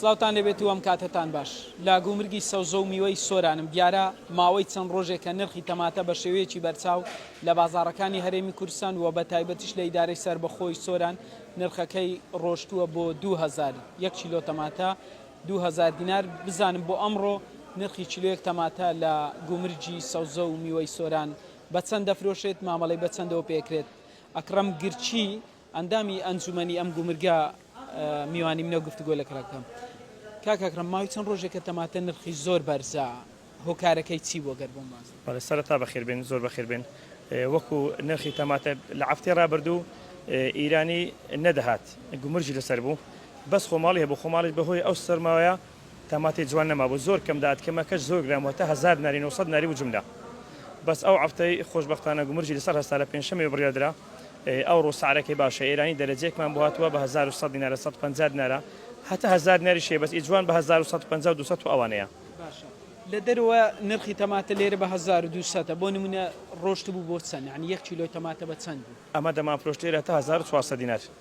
سڵاوتان لێبێت و ئەم کاتەتان باش لە گومرگی سەوزە و میوەی سۆرانم دیارە ماوەی چەند ڕۆژێکە نرخی تەماتە بە شێوەیەکی بەرچاو لە بازاڕەکانی هەرێمی کورسان و بە تایبەتیش لە ئیدارەی سربەخۆی سۆران نرخەکەی ڕۆشتووە بۆ 2000 یەک کیلۆ تەماتە 2000 دینار بزانم بۆ ئەمڕۆ نرخی کیلۆیەک تەماتە لە گومرگی سەوزە و میوەی سۆران بە چەند دەفرۆشێت مامەڵەی بە چەندەوە پێکرێت ئەکڕەم گرچی ئەندامی ئەنجومەنی ئەم گومرگە میوانی منەو گفتوگۆ لەکرا بکەم کاک ئەکرەم ماوەی چەند ڕۆژێکە تەماتە نرخی زۆر بەرزە هۆکارەکەی چی بووە گەر بۆم واز بەڵێ سەرەتا بەخێر بێن زۆر بەخێر بێن وەکو نرخی تەماتە لە عەفتەی ڕابردوو ئیرانی نەدەهات گومرجی لەسەر بوو بەس خۆماڵی هەبوو خۆماڵیش بەهۆی ئەو سەرماوەیە تاماتەی جوان نەمابوو زۆر کەم دات کەمەکەش زۆر گران بوو هەتا هەزار دناری نۆ سەد دناری بوو جوملە بەس ئەو عەفتەی خۆشبەختانە گومرگی لەسەر هەستا لە پێنجشەممەی بڕیار درا ئەوڕۆ سعرەکەی باشە ئێرانی دەرەجەیەکمان بۆ هاتوە بە هەزار و سەد دینارە سەد و پەنجا دینارە هەتا هەزار دیناریش هەیە بەس ئی جوان بە هەزار و سەد و پەنجا و دوو سەد و ئەوانەیە. باشە لە دەرەوە نرخی تەماتە لێرە بە هەزار و دوو سەدە بۆ نمونە ڕۆشتبوو بۆ چەند یانی یەک کیلۆی تەماتە بە چەند بوو؟ ئەمە دەمانفرۆشت لێرە هەتا هەزار و چوار سەد دینار.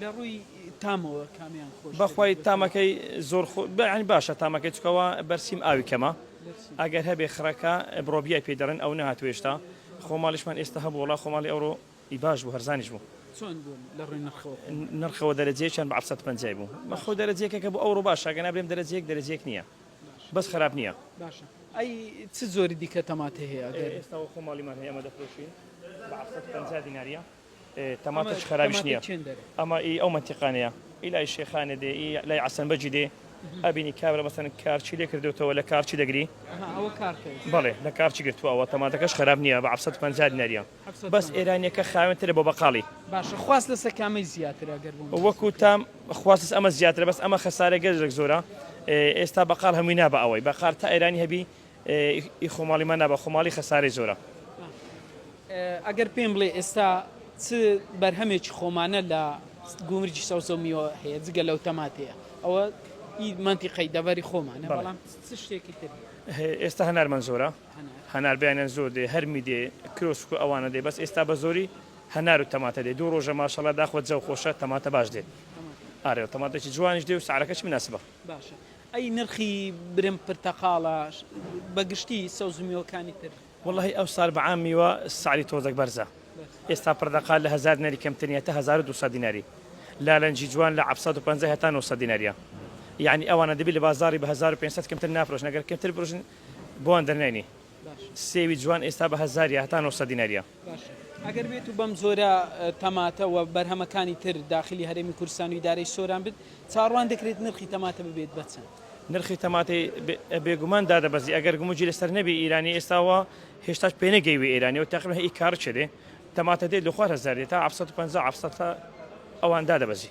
لە ڕووی تامەوە کامیان خۆش؟ بەخوای تامەکەی زۆر خۆ بەیانی باشە تامەکەی چکەوە بەرسیم ئاوی کەمە ئەگەر هەبێ خڕەکە برۆبیای پێ دەڕێن ئەو نهاتوێشتا خۆماڵیشمان ئێستا هەبوو وڵا خۆماڵی ئەوڕۆ ئی باش بوو هەرزانیش بوو نرخەوە دەرەجێکیان بە عسەد پەنجای بوو بەخۆ دەرەجێکە کە بۆ ئەوڕۆ باشە گەنا برێم دەرەجێک دەرەجێک نییە بەس خراپ نییە باشە ئەی چ زۆری دیکە تەماتە هەیە ئێستا خۆماڵیمان هەیە ئەمە دەفرۆشین بە عسەد پەنجا دیناریە تەماتەش خەرابیش نیە ئەمە ئی ئەو مەنتیقانەیە ئی لای شێخانێ دێ ئی لای عەسەن بەگی دێ ئەبینی کابرا مەسەن کارچی لێ کردوتەوە لە کارچی دەگری بەڵێ لە کارچی گرتووەوە تەماتەکەش خەراب نییە بە عەفسەت پەنجا دیناریە بەس ئێرانیەکە خاوێنترە بۆ بەقاڵی باشە خواست لەسە کامەی زیاترە گەر وەکو تام خواست ئەمە زیاترە بەس ئەمە خەسارە گەزێک زۆرە ئێستا بەقال هەمووی نابە ئەوەی بەقار تا ئێرانی هەبی ئی خۆماڵی مە نابە خۆماڵی خەسارەی زۆرە. ئەگەر پێم بڵێ ئێستا چ بەرهەمێکی خۆمانە لە گومرگی سەوزە و میوە هەیە جگە لەو تەماتەیە ئەوە ئی مەنتیقەی دەڤەری خۆمانە بەڵێ. بەڵام چ شتێکی تر هەیە؟ ئێستا هەنارمان زۆرە هەنار. هەنار بیانیان زۆر دێ هەرمی دێ کرۆسک و ئەوانە دێ بەس ئێستا بە زۆری هەنار و تەماتە دێ دوو ڕۆژە ماشەڵا داخوە جەو خۆشە تەماتە باش دێ تەماتە. ئارێ تەماتەکی جوانیش دێ و سعرەکەشی مناسبە. باشە. ئەی نرخی برم پرتەقاڵە بەگشتی سەوزو میوەکانی تر. وەڵاهی ئەوسار بەعام میوە سعری تۆزەک بەرزە ئێستا پردەقال لە هەزار دیناری کەمترنیە هەتا هەزار و دوسەد دیناری لالەنجی جوان لە عەفسەد و پەنجا هەتا نۆسەد دیناریە یەعنی ئەوانە دەبی لە بازاری بە هەزار و پێنج سەد کەمتر نافرۆشن گەر کەمتر برۆشن بۆوان دەرنەینی سێوی جوان ئێستا بە هەزاریە هەتا نۆسەد دیناریە. باشە ئەگەر بێت و بەم جۆرە تەماتە و بەرهەمەکانی تر داخلی هەرێمی کوردستان و ئیدارەی سۆران بێت، چاوەڕوان دەکرێت نرخی تەماتە ببێت بە چەند؟ نرخی تەماتەی بێگومان دادەبەزی، ئەگەر گومرگی لەسەر نەبێ ئیرانی ئێستا وا هێشتاش پێنەگەیوە ئێرانی و تەقریبەن هەی کارت چێ دێ تەماتە دێ لە خوار هەزار دێ تا حەفت سەد و پەنجا حەفت سەد تا ئەوان دادەبەزی.